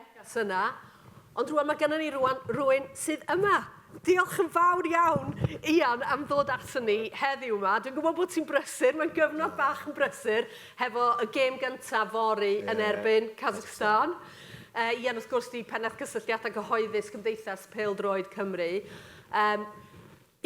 neges yna, ond rwan mae gennym ni rwan rwy'n sydd yma. Diolch yn fawr iawn, Ian, am ddod ato ni heddiw yma. Dwi'n gwybod bod ti'n brysur, mae'n gyfnod bach yn brysur, hefo y gêm gyntaf fori yeah, yn erbyn Kazakhstan. Uh, Ian, wrth gwrs, di pennaeth cysylltiadau cyhoeddus Cymdeithas Peldroed Cymru. Um,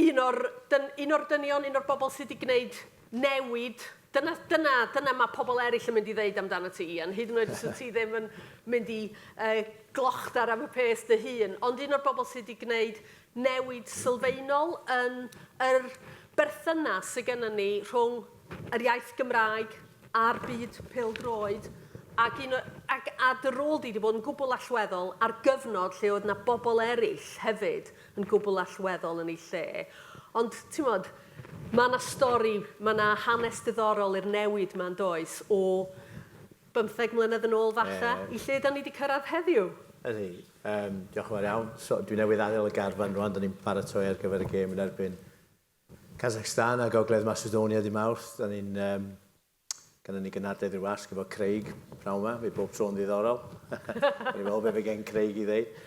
un o'r dyn- un o'r dynion, un o'r bobl sy 'di gwneud newid, dyna dyna dyna ma' pobl eraill yn mynd i ddeud amdanat ti Ian, hyd yn oed os wyt ti ddim yn mynd i yy glochda'r am y pês dy hun, ond un o'r bobl sy 'di gwneud newid sylfaenol yn yr berthynas sy gynnon ni rhwng yr iaith Gymraeg a'r byd pêl-droed, ac un o ac a dy rôl di 'di bod yn gwbl allweddol ar gyfnod lle oedd 'na bobl eraill hefyd yn gwbl allweddol yn ei lle. Ond, timod, mae 'na stori, mae 'na hanes diddorol i'r newid 'ma, yn does, o bymtheg mlynedd yn ôl, falle, i lle 'dan ni 'di cyrraedd heddiw. Ydi. Yym, diolch yn fawr iawn. So, dwi newydd adael y garfan rŵan, 'dan ni'n paratoi ar gyfer y gêm yn erbyn Kazakhstan a Gogledd Macedonia dydd Mawrth. 'Dan ni'n yym, Gynnon ni gynhadledd rhyw wasg efo Craig pnawn 'ma, mae bob tro'n ddiddorol. Gawn ni weld be' fe gen Craig i ddeud.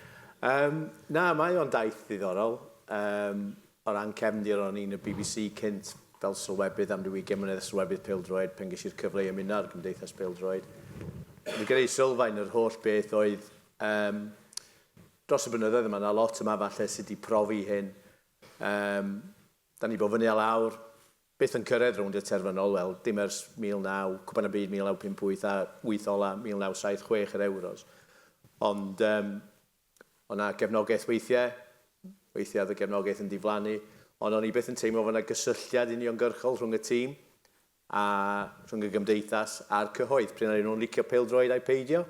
Yym, na, mae o'n daith ddiddorol. Yym, o ran cefndir, o'n i'n y bbc cynt fel sylwebydd am ryw ugain mlynedd, sylwebydd pêl-droed, pan ges i'r cyfle i ymuno â'r Gymdeithas Pêl-droed. O'n i gyda'i sylfaen yr holl beth oedd, yym, dros y blynyddoedd yma, 'na lot yma falle sy 'di profi hyn. Yym, 'dan ni 'di bod fyny a lawr, Byth yn cyrraedd rownd y terfynol, wel, dim ers 1900, Cwpan y Byd 1958 a wyth ola' 1976 yr Ewros. Ond yym, o' 'na gefnogaeth weithie, weithie o'dd y gefnogaeth yn diflannu, ond o'n i byth yn teimlo fod 'na gysylltiad uniongyrchol rhwng y tîm a rhwng y gymdeithas a'r cyhoedd, prin o'n nhw'n licio pêl-droed ai peidio.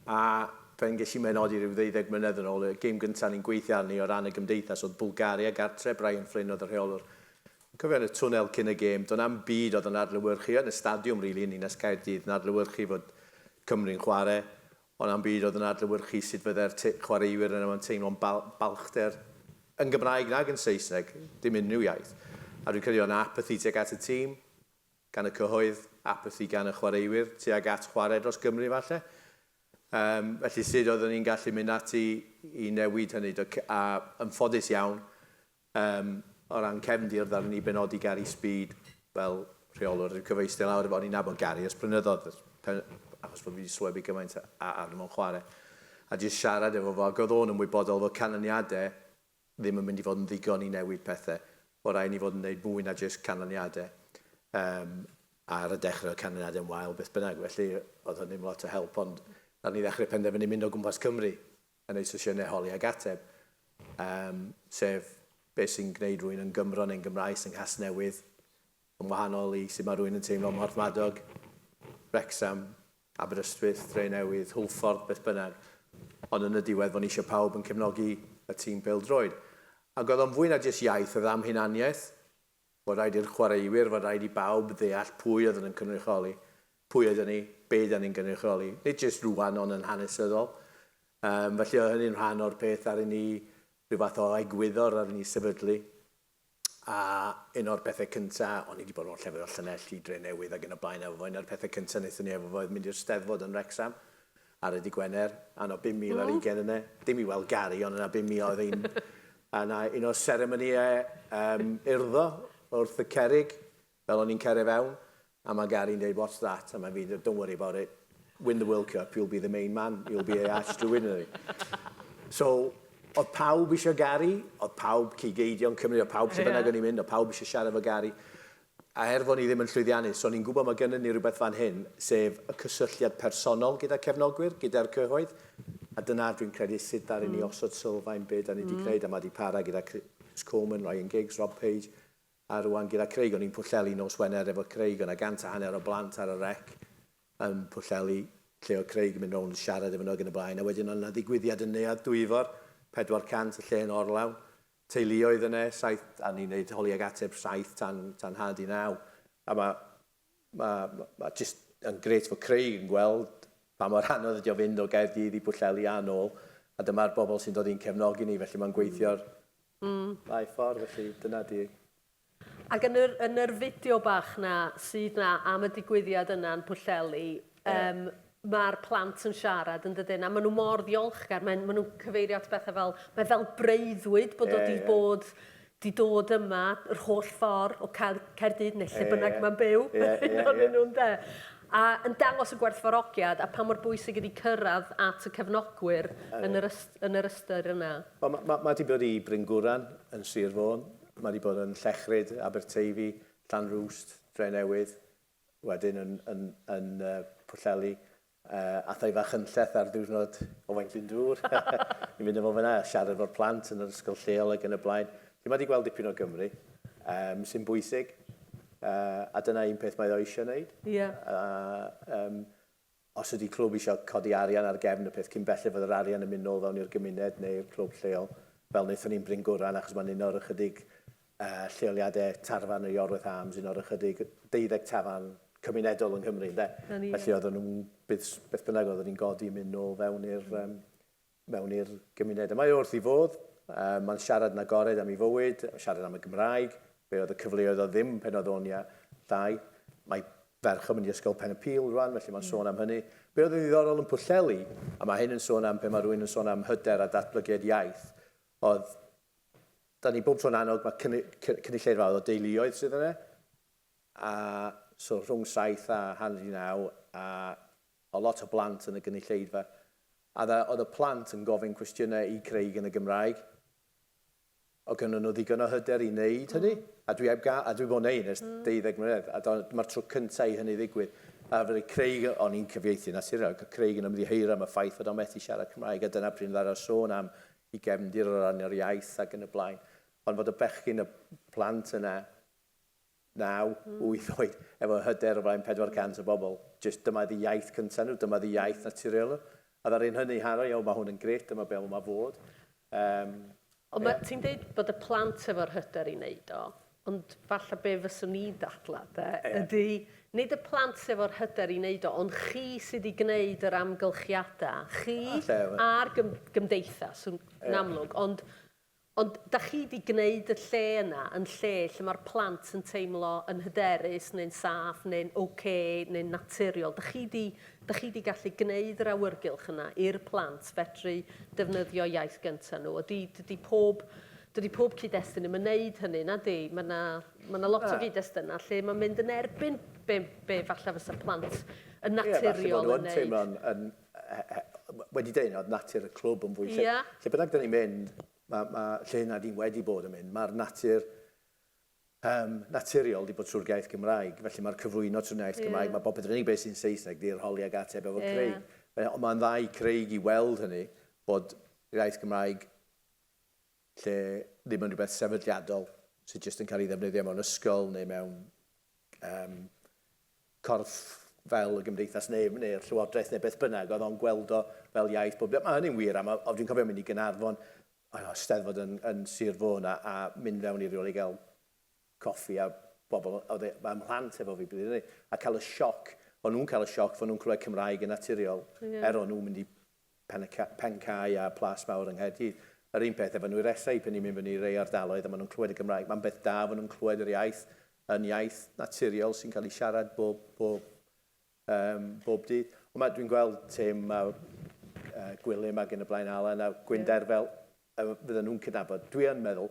A fel ges i menodi rhyw ddeuddeg mlynedd yn ôl, y gêm gyntaf o'n i'n gweithio arni o ran y gymdeithas oedd Bwlgaria gartre, Brian Flynn oedd y rheolwr. Dwi'n cofio yn y twnnel cyn y gêm, doedd na'm byd oedd yn adlewyrchu, yn y stadiwm rili yn Ninas Caerdydd, yn adlewyrchu fod Cymru'n chwarae, oedd na'm byd oedd yn adlewyrchu sut fyddai'r chwaraewyr yna 'ma'n teimlo'n balchder, yn Gymraeg nag yn Saesneg, dim unrhyw iaith. A dwi'n credu oedd 'na apathy tuag at y tîm. gan y cyhoedd, apathi gan y chwaraewyr tuag at chwarae dros Gymru falle. Yym, felly sut oeddwn ni'n gallu mynd ati i newid hynny? Do, a yn ffodus iawn, yym, o ran cefndir ddaru ni benodi Gary Speed fel rheolwr i'r cyfeistir lawr efo, o'n i'n nabod Gary ers blynyddoedd, ers pe- achos bod fi wedi sylwebu gymaint a- arno fo'n chwarae, a jyst siarad efo fo, ac oedd o'n ymwybodol fod canlyniadau ddim yn mynd i fod yn ddigon i newid pethau. Mae'n rhaid i ni fod yn gwneud mwy na jyst canlyniadau. Yym, ar y dechrau oedd canlyniadau yn wael beth bynnag, felly oedd hynny'm lot o help, ond ar ni ddechrau penderfynu mynd o gwmpas Cymru yn wneud sesiynau holi ac ateb, yym, sef beth sy'n gwneud rhywun yn Gymro neu'n Gymraes yng Nghasnewydd yn wahanol i sut mae rhywun yn teimlo ym Mhorthmadog, Wrecsam, Aberystwyth, Drenewydd, Hwlffordd, beth bynnag, ond yn y diwedd fo' ni isio pawb yn cefnogi y tîm pêl-droed. Ac oedd o'n fwy na jyst iaith, oedd am hunaniaeth, fod rhaid i'r chwaraewyr, fod rhaid i bawb ddeall pwy oedden yn cynrychioli, pwy oedden ni, be' ydan ni'n gynrychioli, nid jyst rŵan ond yn hanesyddol. Yym felly oedd hynny'n rhan o'r peth ddaru ni, rhyw fath o egwyddor ddaru ni sefydlu. A un o'r pethe cynta, o'n i 'di bod mewn llefydd fel Llanelli, Drenewydd ag yn y blaen efo fo, un o'r pethe cynta nethon ni efo fo oedd mynd i'r Steddfod yn Wrecsam ar y dy' Gwener, a o' 'na 5,000 ar ugen yne, dim i weld Gary ond yna 5,000 oedd un a 'na un o'r seremonïe yym urddo wrth y cerrig Fel o'n i'n cyrraedd fewn, a mae Gary'n dweud what's that? A mae fi'n dweud don't worry about it, win the World Cup, you'll be the main man, you'll be a arch to win. So, oedd pawb eisiau Gary, oedd pawb, cig eidion Cymru, oedd pawb lle bynnag o'n i'n mynd, oedd pawb eisiau siarad efo Gary. A er fod ni ddim yn llwyddiannus, o'n i'n gwybod mae gynnon ni rywbeth fan hyn, sef y cysylltiad personol gyda cefnogwyr, gyda'r cyhoedd, a dyna dwi'n credu sut ddaru ni osod sylfaen be' 'dan ni 'di gneud a ma' 'di para gyda Chris Coleman, Ryan Giggs, Rob Page, A rŵan gyda Craig, o'n i'n Pwllheli nos Wener efo Craig, o' 'na gant a hanner o blant ar y rec yn Pwllheli, lle oedd Craig yn mynd rownd yn siarad efo nhw ac yn y blaen, a wedyn oedd 'na ddigwyddiad yn Neuadd Dwyfor, 400, y lle yn orlawn, teuluoedd yne, saith, a ni'n neud holi ag ateb, saith tan tan nhad i naw, a ma' ma' ma' ma' jyst yn grêt fod Craig yn gweld pa mor anodd ydi o fynd o Gaerdydd i Bwllheli a nôl, a dyma'r bobl sy'n dod i'n cefnogi ni, felly mae'n gweithio'r Mm. Mae ffordd i chi, dyna di. Ac yn yr, yn yr fideo bach na sydd na am y digwyddiad yna yn Pwllheli, um, yeah mae'r plant yn siarad yn dydyn, a maen nhw mor ddiolchgar, maen, maen nhw'n cyfeirio at bethau fel, mae fel breuddwyd bod yeah, o di yeah. bod di dod yma yr holl ffordd o Caerdydd neu lle e, bynnag mae'n byw, yeah, yeah, yeah. nhw'n de. a yn dangos y gwerthfawrogiad a pha mor bwysig ydy cyrraedd at y cefnogwyr yn yr yn yr ystyr yna. Wel, mae mae mae 'di bod i Bryn Gwran yn Sir Fôn, mae 'di bod yn Llechryd, Aberteifi, Llanrwst, Drenewydd, wedyn yn yn yn uh, Pwllheli, uh, a thai fach yn lleth ar ddiwrnod Owain Glyndŵr. Ni'n mynd efo fyna a siarad efo'r plant yn yr ysgol lleol ac yn y blaen. Felly mae 'di gweld dipyn o Gymru, um, sy'n bwysig. A dyna un peth mae o eisiau wneud. Ie. A yym os ydy clwb eisiau codi arian ar gefn y peth cyn belled fod yr arian yn mynd nôl fewn i'r gymuned neu i'r clwb lleol, fel wnaethon ni'n Bryn Gwran achos mae'n un o'r ychydig yy lleoliadau tarfan yn Iorwerth Arms, un o'r ychydig deuddeg tafarn cymunedol yng Nghymru ynde? 'Na ni. Felly oedden nhw'n beth beth bynnag oedden ni'n godi yn mynd nôl fewn i'r yym mewn i'r gymuned y mae o wrth ei fodd, mae'n siarad yn agored am ei fywyd, mae'n siarad am y Gymraeg, be oedd y cyfleoedd oedd ddim pen oedd o'n llai, mae ferch yn mynd i ysgol Pen y Pil rwan, felly mae'n sôn am hynny. Be oedd yn ddiddorol yn Pwllheli, a mae hyn yn sôn am pe mae rhywun yn sôn am hyder a datblygiad iaith, oedd da ni bob tro'n annog mae cynulleidfa oedd o deuluoedd sydd yna, a so rhwng saith a hanner i naw, a A lot o blant yn y gynulleidfa. A dda, oedd y plant yn gofyn cwestiynau i Craig yn y Gymraeg. Oedd gynnon nhw ddigon o hyder i wneud hynny. A dwi heb gael, a dwi 'di bod yn neud hyn ers deuddeg mlynedd, a dyma'r tro cyntaf i hynny ddigwydd. A fydde Craig, o'n i'n cyfieithu'n naturiol, ac oedd Craig yn ymddiheuro am y ffaith fod o'n methu siarad Cymraeg, a dyna pryd ddadaw sôn am ei gefndir o ran yr iaith ac yn y blaen. Ond fod y bechgyn, y plant yna, naw, wyth oed, efo hyder o flaen 400 o bobl, jyst dyma ydi iaith cynta nhw, dyma ydi iaith naturiol nhw. A ddaru nhw hynny Harri, o ma hwn yn grêt, dyma be ma fod. Yym. Ond ma, ti'n deud bod y plant efo'r hyder i neud o, ond falle be fyswn i'n dadlau de, ydi nid y plant sy efo'r hyder i neud o, ond chi sy di gneud yr amgylchiadau, chi a'r gym- gymdeithas, yn amlwg, ond Ond dach chi 'di gneud y lle yna yn lle lle mae'r plant yn teimlo yn hyderus neu'n saff neu'n ok neu'n naturiol. Dach chi 'di, dach chi 'di gallu gneud yr awyrgylch yna i'r plant fedru defnyddio iaith gynta nhw. A dwi, dydi pob, dydi pob cyd-destun ddim yn wneud hynny, na 'di? Mae 'na, mae 'na lot o gyd-destunau lle mae'n mynd yn erbyn be, be falle fysa plant yn naturiol yn wneud. Ie, falle bod nhw yn teimlo'n, yn, wedi dweud yna, oedd natur y clwb yn fwy... Ie. Lle, lle bynnag da ni'n mynd, ma, ma, lle yna di wedi bod yn mynd, mae'r natur um, naturiol wedi bod trwy'r gaeth Gymraeg, felly mae'r cyflwyno trwy'r naeth yeah. Gymraeg, mae bob yn unig beth sy'n Saesneg, di'r holi ag ateb efo yeah. Craig. Ond mae'n dda i Craig i weld hynny, bod gaeth Gymraeg lle ddim yn rhywbeth sefydliadol sydd jyst yn cael ei ddefnyddio mewn ysgol neu mewn um, corff fel y gymdeithas neu, neu'r llywodraeth neu beth bynnag, oedd o'n gweld o fel iaith bob dydd. Mae hynny'n wir, a mae, dwi'n cofio mynd i Gynarfon, o, steddfod yn, yn Sir Fôn, a, a mynd fewn i rywle i gael coffi a bobl, oedd e, mae mhlant efo fi, bydd a cael y sioc, o'n nhw'n cael y sioc fod nhw'n clywed Cymraeg yn naturiol, yeah. er o'n nhw'n mynd i Pen-y-cae a Plas Mawr yng Nghaerdydd. Yr un peth efo Nwyresau, pan ni'n mynd fyny i rei ardaloedd a maen nhw'n clywed y Gymraeg, mae'n beth da fod nhw'n clywed yr iaith yn iaith naturiol sy'n cael ei siarad bob, bob, um, bob dydd. Ond mae, dwi'n gweld Tim a uh, Gwilym ac yn y blaen, Alan a Gwynder fel a fyddan nhw'n cydnabod, dwi yn meddwl,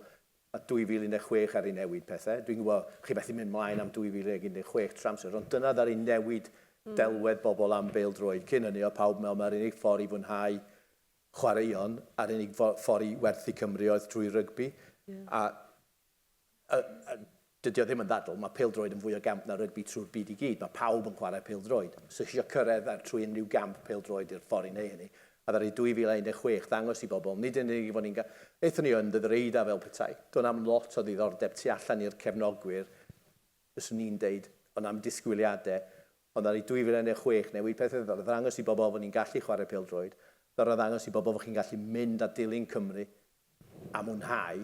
a 2016 ar ei newid pethau, dwi'n gwybod chi methu mynd mlaen am 2016 trwy amser, ond dyna ddaru newid delwedd bobl am bêl-droed, cyn hynny oedd pawb yn meddwl mai'r unig ffordd i fwynhau chwaraeon a'r unig ffordd i werthu Cymru oedd drwy rygbi, a A, a, dydy o ddim yn ddadl, mae pêl-droed yn fwy o gamp na rygbi trwy'r byd i gyd, mae pawb yn chwarae pêl-droed. Os ych chi eisiau cyrraedd ar trwy unrhyw gamp pêl-droed i'r ffordd i wneud hynny, a ddaru 2016 ddangos i bobl, nid yn unig ei fod ni'n ga-, aethon ni yn Ddydd yr Eidaf fel petai, doedd na'm lot o ddiddordeb tu allan i'r cefnogwyr, fyswn i'n deud, oedd na'm disgwyliadau, ond ddaru 2016 newid pethau, ddaru ddangos i bobl fod ni'n gallu chwarae pêl-droed, ddaru ddangos i bobl fod chi'n gallu mynd a dilyn Cymru a mwynhau,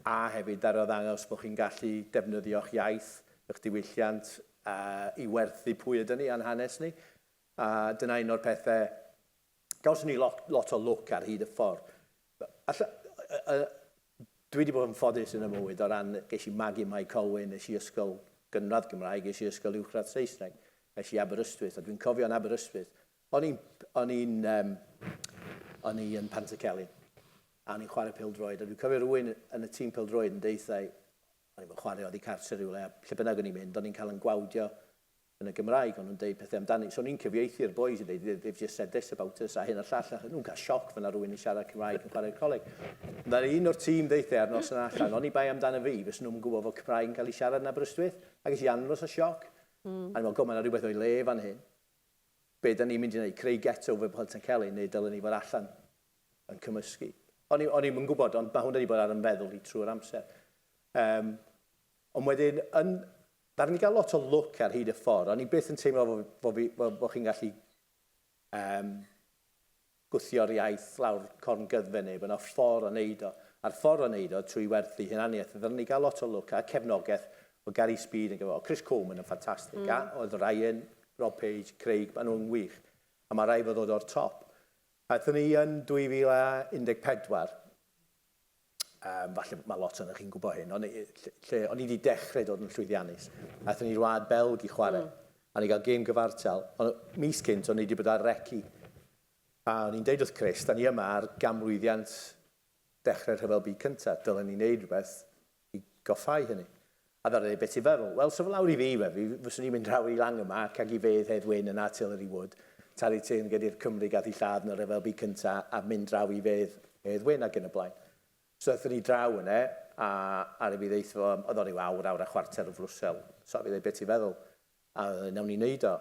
a hefyd arddangos bod chi'n gallu defnyddio'ch iaith, y'ch diwylliant i werthu pwy ydyn ni a'n hanes ni. A dyna un o'r pethe, gawson ni lot, lot o lwc ar hyd y ffordd. Alla, dwi wedi bod yn ffodus yn y mywyd o ran, ges i magu Mae Colwyn, es i ysgol gynradd Gymraeg, es i ysgol uwchradd Saesneg, es i Aberystwyth, a dwi'n cofio'n Aberystwyth, O'n i'n, o'n i'n, yym, o'n i yn Pantycelyn, a o'n i'n chwarae pêl-droed, a dwi'n cofio rywun yn y tîm pêl-droed yn deuthai, o'n i'm yn chwarae, oddi cartre rywle, a lle bynnag o'n i'n mynd, o'n i'n cael yn gwawdio yn y Gymraeg, o'n nhw'n deud pethau amdani, so o'n i'n cyfieithu i'r bois yn deud, they've just said this about us, a hyn a llall, a nhw'n cael sioc fyna rhywun yn siarad Cymraeg yn chwarae'r coleg. Fel un o'r tîm ddeithe ar nos yna allan, oni bai amdano fi, fes nhw'n gwybod fod Cymraeg yn cael ei siarad yn Aberystwyth, a ges i anwes o sioc. Mm. A ni'n meddwl, go, mae yna rhywbeth o'i le fan hyn. be da ni'n mynd i wneud, creu geto fel Pontycelyn neu dylen ni fod allan yn cymysgu? O'n i, o'n i'm yn gwybod, ond mae hwn wedi bod ar ymfeddwl i trwy'r amser. Um, ond wedyn, yn, ddaru ni gael lot o lwc ar hyd y ffordd. O'n i byth yn teimlo fod fi, fo, fo chi'n gallu um, gwthio'r iaith lawr corn gyddfe neb yna ffor o neud o a'r ffor o neud o trwy werthu hunaniaeth a ddylen i gael lot o lwc a cefnogeth o Gary Speed yn gyfo o Chris Coleman yn ffantastig mm. a oedd Ryan Rob Page Craig maen nhw'n wych a mae rhaid fod ddod o'r top aethon ni yn 2014 Yym, falle mae lot ohonoch chi'n gwybod hyn, ond i- ll- lle o'n i 'di dechrau dod yn llwyddiannus. Aethon ni i'r wlad Belg i chwarae, a o'n ni'n cael gêm gyfartal, ond mis cynt o'n i 'di bod ar reci. A o'n i'n deud wrth Chris, 'da ni yma ar ganmlwyddiant dechrau'r Rhyfel Byd Cyntaf, dylen ni wneud rhywbeth I goffáu hynny. A ddaru ni byth i feddwl, wel, sa fo lawr i fi, we, fi fyswn i'n mynd draw i Langh y Marc ag i fedd Hedd Wyn yn Artillery Wood, talu teyrnged i'r Cymry gath i lladd yn y Rhyfel Byd Cynta a mynd draw i fedd Hedd Wyn ag yn y blaen. So aethon ni draw yne, a aru fi ddeutho fo, oedd o ryw awr, awr a chwarter o flwsel. So aru fi ddeud, be ti'n feddwl? A wnawn ni wneud o.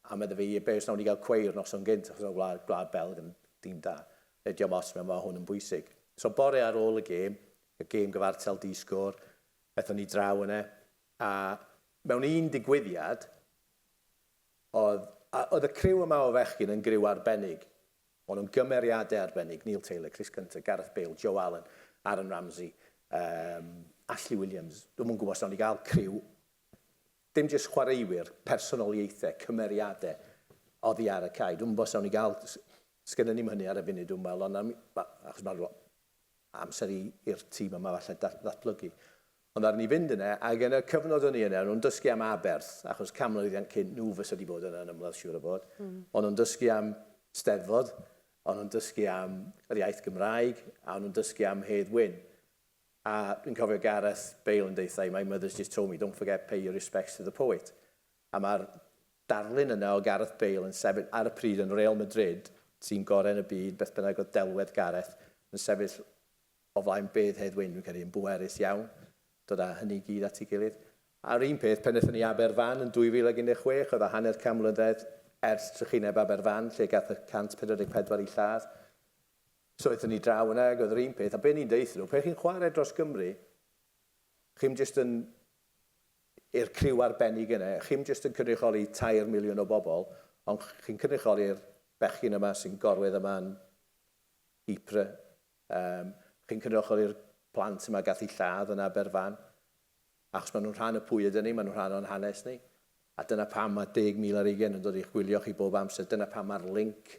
A medda fi, be os wnawn ni gael cweir noson gynt, achos mae Gwlad, Gwlad Belg yn dîm da. Neu diom ots, mae hwn yn bwysig. So bore ar ôl y gêm, y gêm gyfartal di-sgôr, ethon ni draw yna, a mewn un digwyddiad, oedd, a oedd y criw yma o fechgyn yn griw arbennig. O'n nhw'n gymeriadau arbennig, Neil Taylor, Chris Gunter, Gareth Bale, Joe Allen, Aaron Ramsey, um, Ashley Williams. Dwi'm yn gwybod os wnawn ni gael criw Dim jyst chwaraewyr, personoliaethau, cymeriadau oddi ar y cae. Dwi'm yn gwybod os awn ni gael, sgynnon ni'm hynny ar y funud dwi'n meddwl, ond awn ni, achos mae'n rhywle amser i'r tîm yma falle ddatblygu. Ond ddaru ni fynd yna, ac yn y cyfnod o'n i yna, o'n nhw'n dysgu am aberth, achos canmlwyddiant cyn nhw fysa wedi bod yna yn ymladd siŵr o fod. O'n nhw'n dysgu am Steddfod, o'n nhw'n dysgu am yr iaith Gymraeg, a o'n nhw'n dysgu am Hedd Wyn. A dwi'n cofio Gareth Bale yn deuthai, my mother's just told me, don't forget pay your respects to the poet. A mae'r darlun yna o Gareth Bale yn sefyll ar y pryd yn Real Madrid, tîm gorau yn y byd, beth bynnag oedd delwedd Gareth, yn sefyll o flaen bedd Hedd Wyn, dwi'n credu, yn bwerus iawn, dod â hynny i gyd at ei gilydd. A'r un peth pan aethon ni i Aberfan yn 2016, oedd o hanner can mlynedd ers trychineb Aberfan, lle gath y 144 eu lladd. Os aethon ni draw yna ag oedd yr un peth, a be ni'n deutho nhw, pan chi'n chwarae dros Gymru, chi'm jyst yn, i'r criw arbennig yna, chi'm jyst yn cynrychioli tair miliwn o bobl, ond chi'n cynrychioli'r bechgyn yma sy'n gorwedd yma yn Ypres, yym, chi'n cynrychioli'r plant yma gath eu lladd yn Aberfan, achos maen nhw'n rhan o pwy ydyn ni, maen nhw'n rhan o'n hanes ni, a dyna pam mae 10,000 ar ugain yn dod i'ch gwylio chi bob amser, dyna pam mae'r linc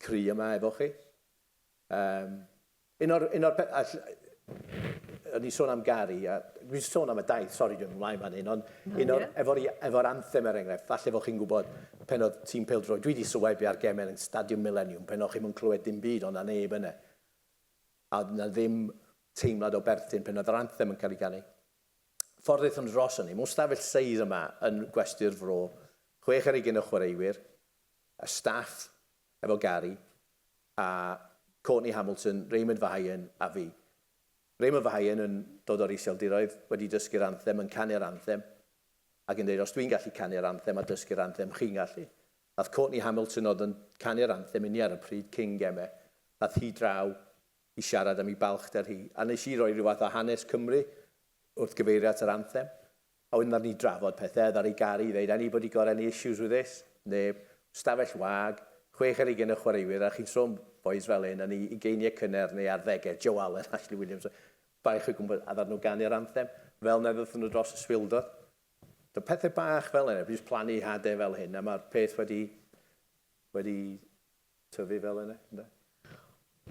cry yma efo chi. Um, un o'r, un o'r pethau... O'n i'n sôn am Gary, a dwi'n sôn am y daith, sori dwi'n ymlaen fan hyn, ond un o'r, efo'r efo anthem er enghraifft, falle fod chi'n gwybod pen oedd tîm peldroed, dwi wedi sylwebu ar gemau yn Stadiwm Millennium, pen oedd chi'n mwyn clywed dim byd, ond na neb yna. A oedd na ddim teimlad o berthyn pen oedd yr anthem yn cael ei ganu. Ffordd aethon dros hynny, mewn stafell seis yma yn gwesty'r fro, chwech ar ugen o chwaraewyr, y staff efo Gary a Courtney Hamilton, Raymond Vahayan a fi. Raymond Vahayan yn dod o'r Iseldiroedd, wedi dysgu'r anthem, yn canu'r anthem ac yn deud os dwi'n gallu canu'r anthem a dysgu'r anthem, chi'n gallu. Ath Courtney Hamilton oedd yn canu'r anthem inni ar y pryd cyn geme, ath hi draw i siarad am ei balchder hi a nes i roi rhyw fath o hanes Cymru wrth gyfeirio at yr anthem. A wedyn nawn ni drafod pethe, ddaru Gary ddeud anybody got any issues with this? Neb. Stafell wag, chwech ar hugain o chwaraewyr a chi'n tro'n bois fel hyn yn eu ugeiniau cynnar neu arddegau, Joe Allen, Ashley Williams, baich o gwmpas a ddaru nhw ganu'r anthem fel na ddaethon nhw dros y swildod. So pethau bach fel yna, fi jyst plannu hade fel hyn a mae'r peth wedi, wedi tyfu fel yna, ynde?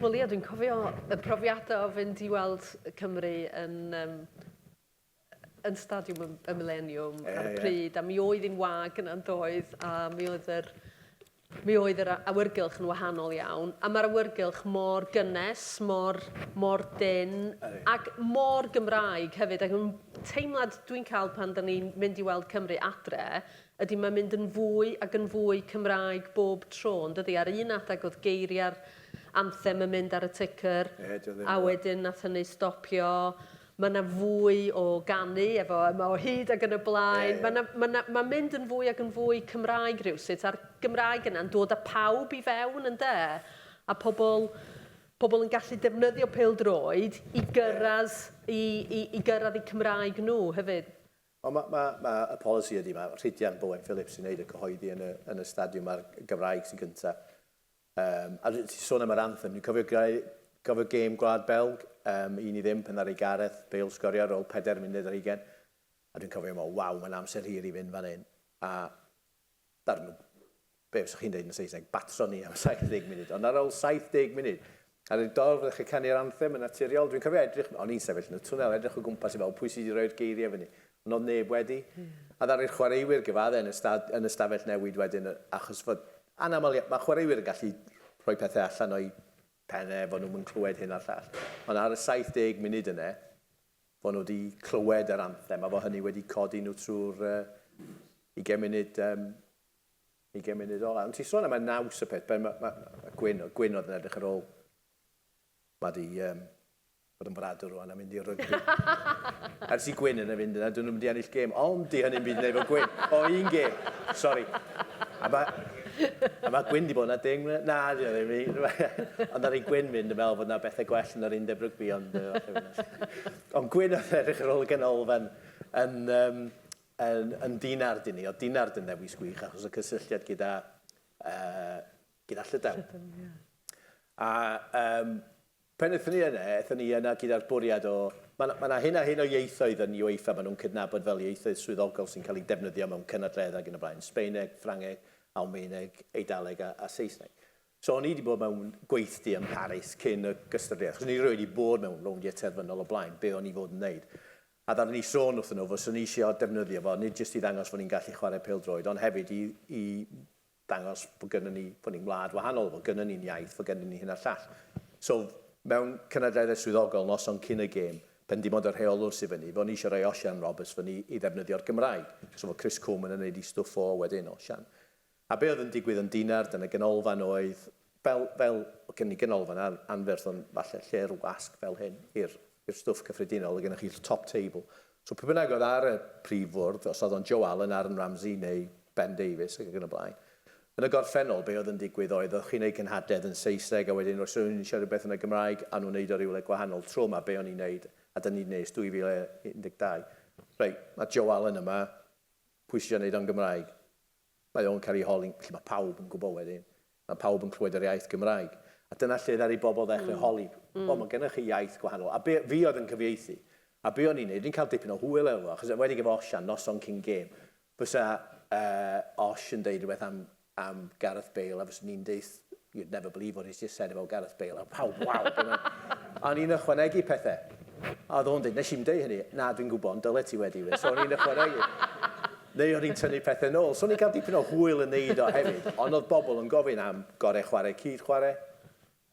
Wel ia, dwi'n cofio y profiadau o fynd i weld Cymru yn um, yn Stadiwm y y Mileniwm ar y pryd a mi oedd hi'n wag yna yndoedd a mi oedd yr mi oedd yr awyrgylch yn wahanol iawn a mae'r awyrgylch mor gynnes, mor, mor dynn ac mor Gymraeg hefyd ac yn teimlad dwi'n cael pan da ni'n mynd i weld Cymru adre ydy mae'n mynd yn fwy ac yn fwy Cymraeg bob tro yn dydy ar un adeg oedd geiriau'r anthem yn mynd ar y ticker a wedyn nath hynny stopio Mae 'na fwy o ganu efo yma o hyd ac yn y blaen. Ie, ie. Mae 'na, mae 'na, mae'n mynd yn fwy ac yn fwy Cymraeg rywsut, a'r Gymraeg yna'n dod â pawb i fewn, ynde? A pobl, pobl yn gallu defnyddio pêl-droed i gyrraedd, i, i, i gyrraedd eu Cymraeg nhw hefyd. Ond mae, mae, mae y polisi ydy, mae Rhidian Bowen Phillips sy'n wneud y cyhoeddi yn y, yn y stadiwm, mae'r Gymraeg sy'n gynta'. Yym, a ti'n sôn am yr anthem, dwi'n cofio greu, cofio gêm Gwlad Belg, um, un i ddim, pan ddaru Gareth Bale sgorio ar ôl 4 munud ar 20, a dwi'n cofio mo, waw, mae'n amser hir i fynd fan hyn, a darn o, be fyswch chi'n dweud yn Saesneg, batro ni am 70 munud, ond ar ôl 70 munud, Ar y dorf fyddech chi'n canu'r anthem yn naturiol. Dwi'n cofio edrych, o'n i'n sefyll yn y twnnel, edrych o gwmpas i weld pwy sydd wedi rhoi'r geiriau fyny, ond oedd neb wedi. A ddaru'r chwaraewyr gyfaddau yn y stad, yn y stafell newid wedyn, achos fod, anaml, mae chwaraewyr yn gallu rhoi pethau allan o'u pennau, fod nhw'm yn clywed hyn a'r llall. Ond ar y 70 munud yna, fod nhw wedi clywed yr anthem, a fod hynny wedi codi nhw trwy'r ugain munud, yym, Ugain munud ola. Ond ti'n sôn am y naws y peth, ben, ma, ma, ma Gwyn, Gwyn oedd yn edrych ar ôl. Mae di um, bod yn fradwr rwan a mynd i'r rygbi. Ers i Gwyn yna fynd yna, dyn nhw'n mynd i ennill gêm. Ond di hynny'n byd neu fo Gwyn. O, un gêm. Sori. A mae... A mae Gwyn di bod yna deng mlynedd. Na, di oedd ddim. Ond ar ei Gwyn fynd yn fel bod yna bethau gwell yn yr undeb rygbi. Ond, ond Gwyn oedd edrych ar ôl y ganolfan yn, um, Yn yn Dinard i ni. O'dd Dinard yn ddewis gwych achos y cysylltiad gyda yy gyda Llydaw. Llydaw, ie. A yym pan ethon ni yne, ethon ni yna gyda'r bwriad o, ma' 'na ma' 'na hyn a hyn o ieithoedd yn UEFA ma' nhw'n cydnabod fel ieithoedd swyddogol sy'n cael eu defnyddio mewn cynadledda ac yn y blaen, Sbaeneg, Ffrangeg, Almaeneg, Eidaleg a, a Saesneg. So o'n i wedi bod mewn gweithdy ym Mharis cyn y gystadleuaeth, achos o'n i rioed wedi bod mewn rowndiau terfynol o blaen, be o'n i fod yn wneud? A ddaru ni sôn wrthyn nhw fyswn ni isio defnyddio fo, nid jyst i ddangos fod ni'n gallu chwarae pêl-droed, ond hefyd i i ddangos bod gynnon ni, bod ni'n wlad wahanol, fod gynnon ni'n iaith, fod gynnon ni hyn a'r llall. So, mewn cynadleddau swyddogol, noson cyn y gêm, pan dim ond y rheolwr sy fyny, fo' ni isio rhoi Osian Roberts fyny i ddefnyddio'r Gymraeg. So fo' Chris Coleman yn neud 'i stwff o wedyn, Osian. A be oedd yn digwydd yn Dinard yn y ganolfan oedd, fel, fel, oedd gen ni ganolfan an, anferth ond falle lle'r wasg fel hyn i'r i'r stwff cyffredinol, oedd gennych chi'r top table. So pwy bynnag oedd ar y prif fwrdd, os oedd o'n Joe Allen, Aaron Ramsey neu Ben Davies ac yn y blaen, yn y gorffennol be oedd yn digwydd oedd oedd chi'n ei cynhadledd yn Saesneg a wedyn os rhywun yn eisiau rhywbeth yn y Gymraeg a nhw'n wneud o rywle gwahanol tro yma be o'n i'n wneud a da ni'n wneud ers 2012 reit, mae Joe Allen yma, pwy sydd eisiau wneud o'n Gymraeg? Mae o'n cael ei holi, felly mae pawb yn gwybod wedyn. Mae pawb yn clywed yr iaith Gymraeg. A dyna lle ddaru bobl ddechrau holi, O, mae gennych chi iaith gwahanol. A be, fi oedd yn cyfieithu. A be o'n i'n neud, o'n i'n cael dipyn o hwyl efo fo, achos enwedig efo Osian, noson cyn gêm, fysa yy Osh yn deud rhywbeth am am Gareth Bale a fyswn i'n deuth you'd never believe what he's just said about Gareth Bale. A pawb, waw! A o'n i'n ychwanegu pethau. A oedd o'n dweud, nes i'n dweud hynny, na, dwi'n gwybod, ond dyle ti wedi we. So o'n i'n ychwanegu. Neu o'n i'n tynnu pethau nôl. So o'n i'n cael dipyn o hwyl yn neud o hefyd. Ond oedd bobl yn gofyn am gorau chwarae cyd chwarae,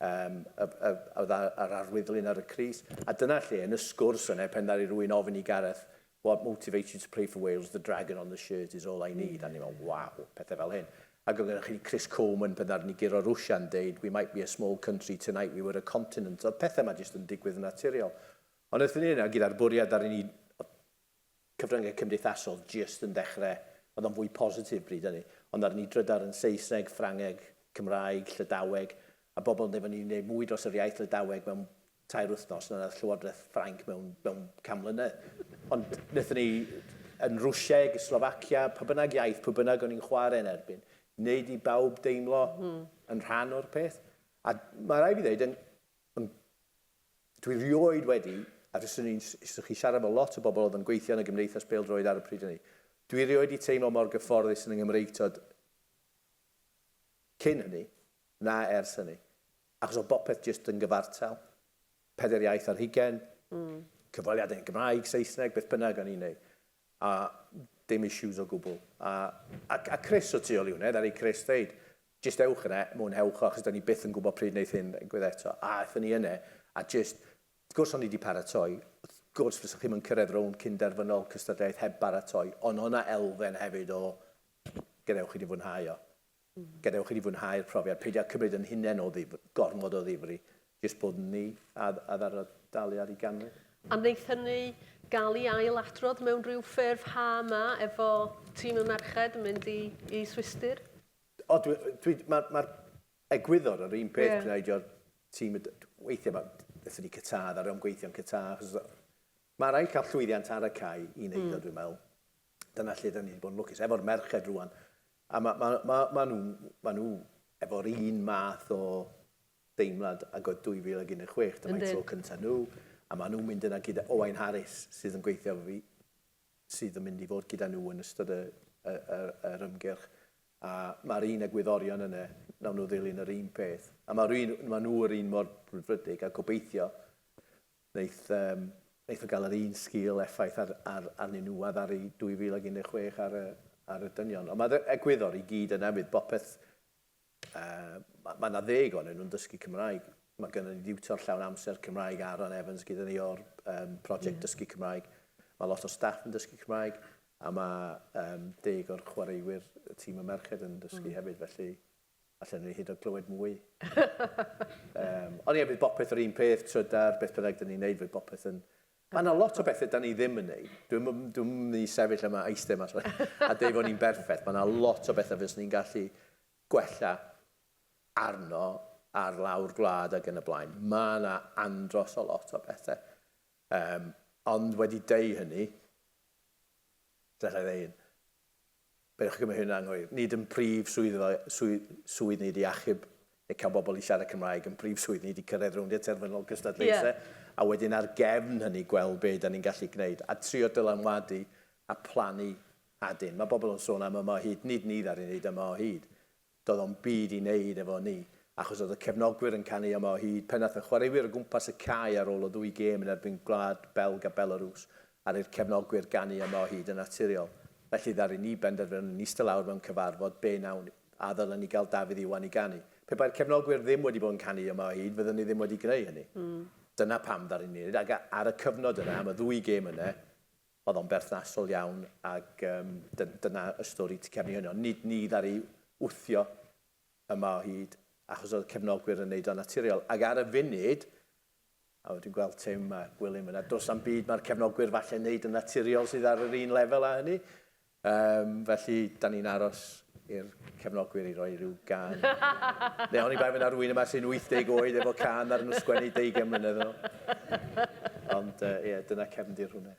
um, oedd ar arwyddlun ar y Cris. A dyna lle, yn y sgwrs yna, pen ddaru rwy'n ofyn i Gareth, What motivates you to play for Wales? The dragon on the shirt is all I need. A ni mewn, waw, pethau fel hyn. Ac oedd gennych chi Chris Coleman pan ddaru ni guro Rwsia yn deud, we might be a small country, tonight we were a continent. Oedd pethau yma jyst yn digwydd yn naturiol. Ond wrth ni yna, gyda'r bwriad ddaru ni, cyfryngau cymdeithasol jyst yn dechrau, oedd o'n fwy positif bryd hynny, ond ddaru ni drydar yn Saesneg, Ffrangeg, Cymraeg, Llydaweg, a bobl yn deud fod ni wedi gwneud mwy dros yr iaith Lydaweg mewn tair wythnos na wnaeth Llywodraeth Ffrainc mewn, mewn can mlynedd. Ond wnaethon ni yn Rwsieg, Slovacia, pa bynnag iaith, pwy bynnag o'n i'n chwarae yn erbyn, wneud i bawb deimlo mm. yn rhan o'r peth. A mae rai fi ddweud, yn, yn, dwi rioed wedi, a fyswn ni'n chi siarad efo lot o bobl oedd yn gweithio yn y gymdeithas peldroed ar y pryd hynny, dwi rioed wedi teimlo mor gyfforddus yn y Nghymreigtod cyn hynny, na ers hynny. Achos oedd bopeth jyst yn gyfartal. Pedair iaith ar hugain, cyfweliadau yn Gymraeg, Saesneg, beth bynnag o'n i'n neud. A dim issues o gwbl. A a a Chris o Tŷ Oliwnedd, aru Chris ddeud, jyst ewch yna, mwynhewch o, achos 'dan ni byth yn gwbod pryd neith hyn ddigwydd eto. A aethon ni yna, a jyst, wrth gwrs o'n i 'di paratoi, wrth gwrs fysa chi'm yn cyrraedd rownd cyn-derfynol cystadleuaeth heb baratoi, ond o' 'na elfen hefyd o gadewch i ni fwynhau o. Gadewch i ni fwynhau'r profiad, peidio â cymryd yn hunain o ddifri, gormod o ddifri, jyst bod ni a ddara'r daliad i ganrif. A wneith hynny gael ei ail-adrodd mewn rhyw ffurf ha 'ma efo tîm y merched yn mynd i i Swistir? O, dwi, dwi, mae'r ma egwyddor yr un peth yeah. gwneud o'r tîm, weithiau mae, wnaethon ni Qatar, ddaru o'm gweithio'n Qatar, achos mae rhaid cael llwyddiant ar y cae i wneud mm. o, dwi'n meddwl. Dyna lle da ni wedi bod yn lwcus. Efo'r merched rwan, A ma, ma, ma, ma nhw, ma nhw efo'r un math o deimlad ag oedd 2016, dyma'i tro cyntaf nhw, a ma nhw'n mynd yna gyda Owain Harris, sydd yn gweithio efo fi, sydd yn mynd i fod gyda nhw yn ystod y, y, y, yr ymgyrch. A mae'r un egwyddorion yna, nawn nhw ddilyn yr un peth. A ma, un, ma nhw yr un mor brwdfrydig, a gobeithio Wnaeth, yym, wnaeth o gael yr un sgil effaith ar, ar, arnyn nhw a ddaru 2016 ar y, ar y dynion. Ond mae'r e, egwyddor i gyd yna fydd bopeth, yy, mae ma 'na ddeg onyn nhw'n dysgu Cymraeg. Mae gynnon ni diwtor llawn amser Cymraeg, Aaron Evans, gyda ni o'r um, prosiect yeah. Dysgu Cymraeg. Mae lot o staff yn dysgu Cymraeg a mae um, deg o'r chwaraewyr y tîm y merched yn dysgu mm. hefyd, felly Allen ni hyd yn oed glywed mwy. Yym, ond ie, bydd bopeth yr un peth, trydar, beth bynnag dyn ni'n neud, fydd bopeth yn... Ma' 'na lot o bethe da ni ddim yn neud. Dwi'm yn dwi'm yn myn' i sefyll yma a eiste yma sori a deu fo' ni'n berffeth. Ma' 'na lot o bethe fyswn i'n gallu gwella arno ar lawr gwlad ag yn y blaen. Ma' 'na andros o lot o bethe. Yym, ond wedi deu hynny, gallai ddeu un. Peidiwch â cymryd hyn yn anghywir, nid yn prif swyddfa swydd ni ydi achub neu cael bobl i siarad Cymraeg, yn prif swydd ni ydi cyrraedd rowndiau terfynol cystadlaethau a wedyn ar gefn hynny gweld be dan ni'n gallu gwneud a trio dylanwadu a plannu adyn. Mae bobl yn sôn am yma o hyd, nid ni ddaru wneud yma o hyd. Doedd o'm byd i neud efo ni, achos oedd y cefnogwyr yn canu yma o hyd pen ath y chwaraewyr o gwmpas y cae ar ôl y ddwy gêm yn erbyn Gwlad Belg a Belarws, aru 'r cefnogwyr ganu yma o hyd yn naturiol. Felly ddaru ni benderfynu yn ista lawr mewn cyfarfod be nawn a ddylen ni gael Dafydd Iwan i ganu. Pe bai'r cefnogwyr ddim wedi bod yn canu yma o hyd fydden ni ddim wedi greu hynny. Dyna pam ddaru ni neud, ac ar y cyfnod yna, am y ddwy gêm yna, Oedd o'n berthnasol iawn ac yym dyn- dyna y stori tu cefn i hynny. Ond nid ni ddaru wthio yma o hyd achos oedd y cefnogwyr yn wneud o'n naturiol. Ac ar y funud, a wel dwi'n gweld Tim a Gwilym yna, does na'm byd mae'r cefnogwyr falle'n wneud yn naturiol sydd ar yr un lefel â hynny. Yym, felly, 'dan ni'n aros i'r cefnogwyr i roi rhyw gân neu oni bai fy' 'na rywun yma sy'n 80 oed efo cân ddaru nhw sgwennu deugain mlynedd yn ôl. Ond, yy, ie, dyna cefndir hwnna.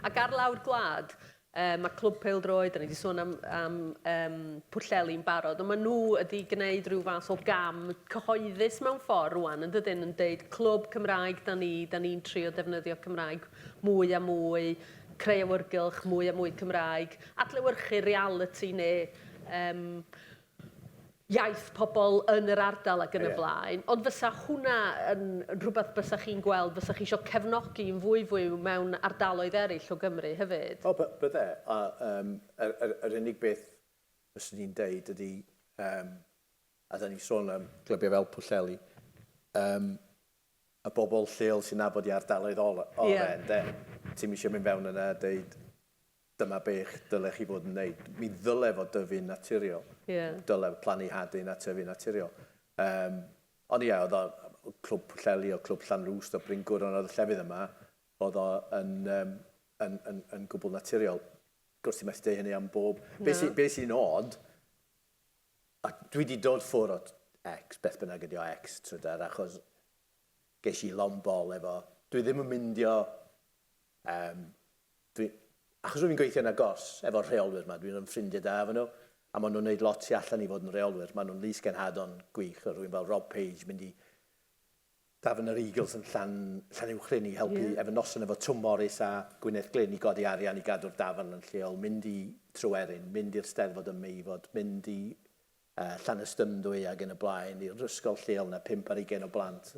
Ac ar lawr gwlad, yy, ma' Clwb Pêl-droed, 'dan ni 'di sôn am am yym Pwllheli'n barod, ond ma' nhw wedi gneud rhyw fath o gam cyhoeddus mewn ffordd rŵan, yn dydyn, yn deud 'Clwb Cymraeg 'dan ni, 'dan ni'n trio defnyddio Cymraeg mwy a mwy', creu awyrgylch mwy a mwy Cymraeg, adlewyrchu realiti neu um, iaith pobl yn yr ardal ac yn y blaen. Ond fysa hwnna yn rhywbeth bysa chi'n gweld, fysa chi eisiau cefnogi yn fwy fwy mewn ardaloedd eraill o Gymru hefyd? O, bydde. A, um, yr, yr, yr unig beth fyswn i'n deud ydy, um, a da ni sôn am glybiau fel Pwllheli, um, y bobl lleol sy'n nabod i ardaloedd ore ynde? Ti'm isio mynd fewn yna a deud dyma be dyle chi fod yn neud. Mi ddyle fod dyfu'n naturiol. Dyle plannu hadyn a tyfu naturiol. Yym ond ie oedd o Clwb Pwllheli o Clwb Llanrwst o Bryn Gwr ond oedd y llefydd yma oedd o yn yym yn yn yn gwbwl naturiol. Does ti methu deud hynny am bob... Na. Be sy be sy'n od A dwi wedi dod ffwr o X, beth bynnag ydy o, X, trydar, achos ges i long bol efo, dwi ddim yn myndio, yym, dwi, achos rwy'n gweithio yn agos efo'r rheolwyr yma, dwi'n ffrindiau da efo nhw, a maen nhw'n gwneud lot tu allan i fod yn reolwyr, maen nhw'n lys-genhadon gwych, rwy'n fel Rob Page mynd i Dafn yr Eagles yn Llan Llanuwchllyn i helpu efo noson efo Twm Morys a Gwyneth Glyn i godi arian i gadw'r dafarn yn lleol, mynd i Tryweryn, mynd i'r Steddfod ym Meifod, mynd i Llanystumdwy ac yn y blaen, i'r ysgol lleol na pump ar ugain o blant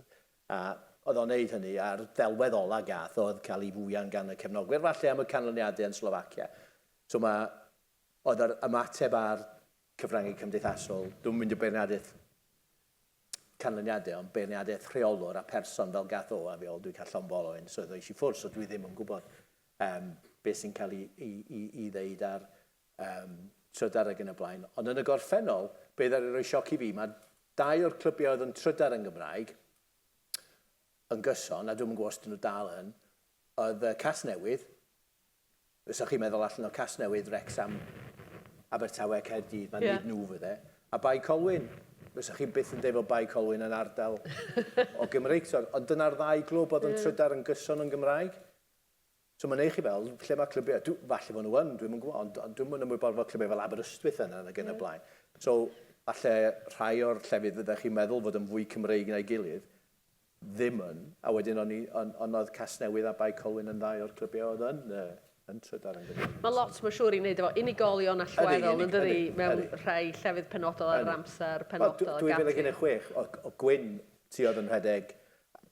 a oedd o'n neud hynny a'r ddelwedd ola gath o oedd cael ei fwyan gan y cefnogwyr falle am y canlyniadau yn Slovacia so mae oedd yr ymateb a'r cyfrangau cymdeithasol, dwi'm yn mynd i beirniadaeth canlyniadau ond beirniadaeth rheolwr a pherson fel gath o a fi ol dwi cael llonfol o un swydd oes i ffwrdd so dwi ddim yn gwybod um, beth sy'n cael i, i, i, i ddeud ar um, trydar ag yn y blaen ond yn y gorffennol be ddari roi sioc i fi mae dau o'r clybiau oedd yn trydar yn Gymraeg yn gyson a dwi'n yn gwybod os dyn nhw dal yn oedd uh, Casnewydd Fysa chi'n meddwl allan o Casnewydd, Wrecsam, Abertawe, Caerdydd, mae'n dweud nhw fydde. A Bae Colwyn, fysa chi byth yn dweud fod Bae Colwyn yn ardal o Gymreig. Ond dyna'r ddau glwb oedd yn trydar yn gyson yn Gymraeg. So mae'n ei chi fel, lle mae clybiau? Falle bod nhw yn, dwi'm yn gwybod, ond dwi'm yn ymwybodol fod clybiau fel Aberystwyth yna nag yn y blaen. So falle rhai o'r llefydd fyddech chi'n meddwl fod yn fwy Cymreig na'i gilydd, ddim yn, a wedyn o'n i, ond on oedd Casnewydd a Bae Colwyn yn ddau o'r clybiau oedd yn yy yn trydar yn gyfnod Mae Wilson. lot mae'n siŵr i wneud efo unigolion allweddol yn dydi? Ydy, ydy, ydy. Mewn rhai llefydd penodol ar yr amser penodol ac ati. 2016 oedd Gwyn ti oedd yn rhedeg,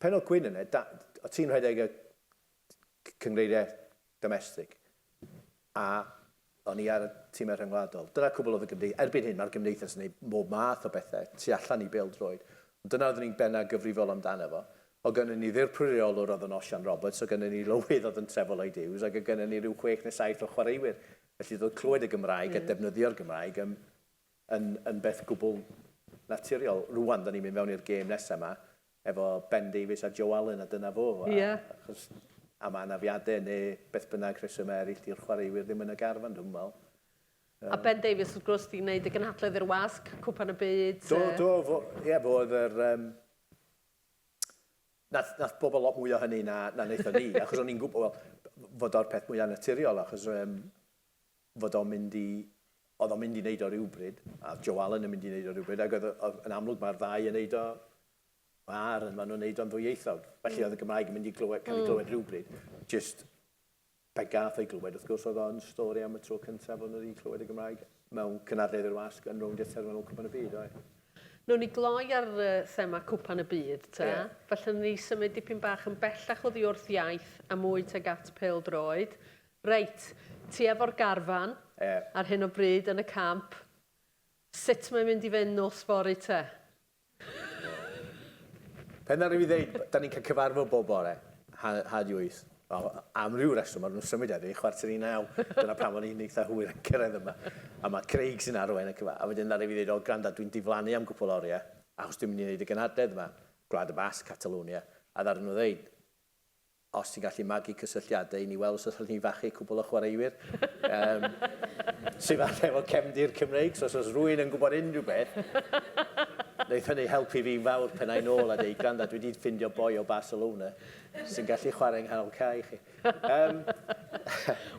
pen oedd Gwyn yna, da- o ti'n rhedeg y Cynghreiriau domestig, a o'n i ar y timau rhyngwladol. Dyna cwbl oedd y gymdeithas. Erbyn hyn, mae'r gymdeithas yn gwneud mhob math o bethau tu allan i bêl-droed, ond dyna oeddwn i'n bennaf gyfrifol amdano fo. Oedd gennyn ni ddirprwy reolwr oedd yn Osian Roberts, oedd gennyn ni lywydd oedd yn Trevor Lloyd Hughes, ac oedd gennyn ni rhyw chwech neu saith o chwaraewyr, felly doedd clywed y Gymraeg a defnyddio'r Gymraeg yn, yn, yn beth gwbl naturiol. Rŵan, 'dan ni'n mynd fewn i'r gêm nesaf 'ma, efo Ben Davies a Joe Allen a dyna fo. A, Ia. achos am anafiadau neu beth bynnag rhesymau eraill 'di'r chwaraewyr ddim yn y garfan dwi'm yn meddwl. A Ben Davies wrth gwrs 'di neud y gynhadledd i'r wasg, Cwpan y Byd. Do, do, fo, ie, fo oedd yr yym, nath, nath bobl lot mwy o hynny na, na naethon ni, achos o'n i'n gwybod, wel, fod o'r peth mwya naturiol, achos yym, fod o'n mynd i... oedd o'n mynd i wneud o rywbryd, a oedd Joe Allen yn mynd i wneud o rywbryd, ac oedd, oedd, yn amlwg mae'r ddau yn wneud o ar, maen nhw'n wneud o'n ddwyieithog. Felly mm. oedd y Gymraeg yn mynd i glywed, cael ei mm. glywed mm. rhywbryd. Just, pe gath ei glywed, wrth gwrs, oedd o'n stori am y tro cyntaf o'n wedi clywed y Gymraeg mewn cynadledd i'r wasg yn rownd eithaf mewn cwpan y byd, oedd. Nw'n ni gloi ar uh, thema cwpan y byd, ta? Yeah. Felly ni symud dipyn bach yn bellach oddi wrth iaith a mwy teg at pel droed. Reit, ti efo'r garfan ar hyn o bryd yn y camp. Sut mae'n mynd i fynd nos fory te? Pan ddaru fi ddeud, 'da ni'n cael cyfarfod bob bore, ha- di wyth. Wel, am ryw reswm maen nhw'n symud heddi, chwarter i naw. Dyna pam o'n i'n eitha hwyr yn cyrraedd yma. A mae Craig sy'n arwain y cyfa-. A wedyn ddaru fi ddeud, 'O, gwranda, dwi'n diflannu am gwpwl o oriau, achos dwi'n mynd i wneud y gynhadledd yma, Gwlad y Basg, Catalwnia. A ddaru nhw ddeud, Os ti'n gallu magu cysylltiadau i ni weld os allwn ni fachu cwpl o chwaraewyr yym sy falle efo cefndir Cymreig, so os oes rhywun yn gwybod unrhyw beth, wneith hynny helpu fi'n fawr pen ai nôl a deud, gwranda, dwi 'di ffindio boi o Barcelona sy'n gallu chwarae yng nghanol cae i chi. Yym.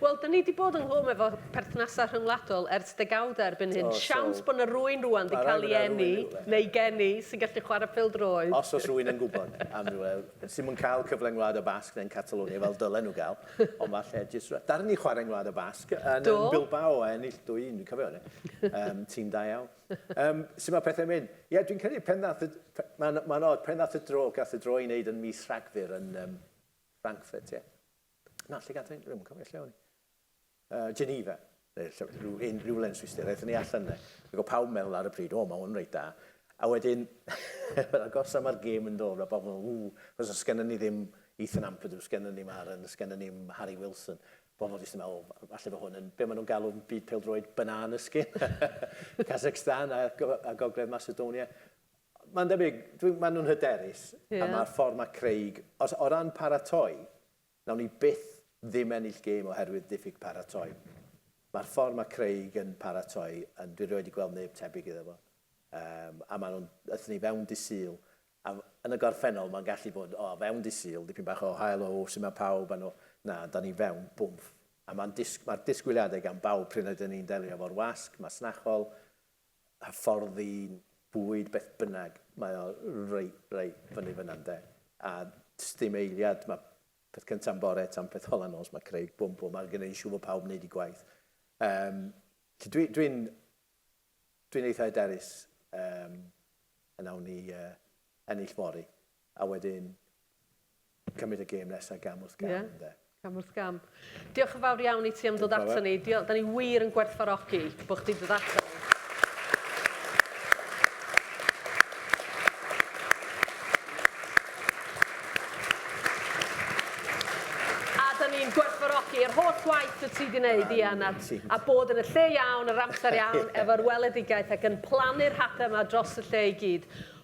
Wel, 'da ni 'di bod yng nghwm efo perthnasau rhyngwladol ers degawdau erbyn hyn. O, so. Siawns bod 'na rywun rŵan 'di cael ei eni, neu geni, sy'n gallu chwarae pêl-droed. Os oes rhywun yn gwybod am rywle. Sy ddim yn cael cyfle yn Ngwlad y Basg neu'n Catalonia fel dylen nhw gael, ond falle jyst rhywbeth. Ddaru ni chwarae yn Ngwlad y Basg, yn yn Bilbao a ennill 2-1, dwi'n cofio hynny. Yym, tîm da iawn. Yym, sut mae pethau'n mynd? Ie, dwi'n credu pen ddaeth y... Mae'n ma od, pen ddaeth y dro, gath y dro ei wneud yn mis Rhagfyr yn um, Frankfurt, ie. Na, lle gath ei... Dwi'm yn cofio lle o'n i. Geneva, neu lle, rhyw un, rhywle yn Swistir, aethon ni allan yna, ac o pawb meddwl ar y pryd, o, mae hwn reit da. A wedyn, fel agos am ar gêm yn dod, mae pawb yn meddwl, ww, chos os gennym ni ddim Ethan Ampadu, os gennym ni Maren, os gennym ni Harry Wilson, bobl jyst yn meddwl, o, falle fo hwn yn, be maen nhw'n galw byd peldroed, banana skin, Kazakhstan a, a Gogledd Macedonia. Mae'n debyg, maen nhw'n hyderus, yeah. a mae'r ffordd mae Craig, os, o ran paratoi, Nawn ni byth ddim ennill gêm oherwydd diffyg paratoi. Mae'r ffordd mae Craig yn paratoi yn, dwi rioed di gweld neb tebyg iddo fo. Yym, a maen nhw'n, aethon ni fewn dy Sul, a f- yn y gorffennol mae'n gallu bod, o, fewn dy Sul, dipyn bach o hael, o, sut mae pawb, a nhw, na, dan ni fewn, bwmff. A mae'n disg- mae'r disgwyliadau gan bawb pryd rydyn ni'n delio efo'r wasg masnachol, hyfforddi, bwyd, beth bynnag, mae o reit, reit fyny fyna ynde. A does dim eiliad, mae peth cyntaf bore tan peth ola nos, mae Craig, bwm bwm, mae'n gwneud siŵr bod pawb yn gwneud eu gwaith. Um, Dwi'n dwi dwi eitha hyderus um, yn awn ni uh, ennill fori. A wedyn, cymryd y gêm nesa gam wrth gam ynde? Ie, cam wrth gam. Diolch yn fawr iawn i ti am ddod ato ni. Diolch, da ni wir yn gwerthfarogi bod chdi dod ato ni. i'r holl waith y ti di wneud, Ian, a, a bod yn y lle iawn, yr amser iawn, efo'r weledigaeth ac yn plannu'r hapau yma dros y lle i gyd.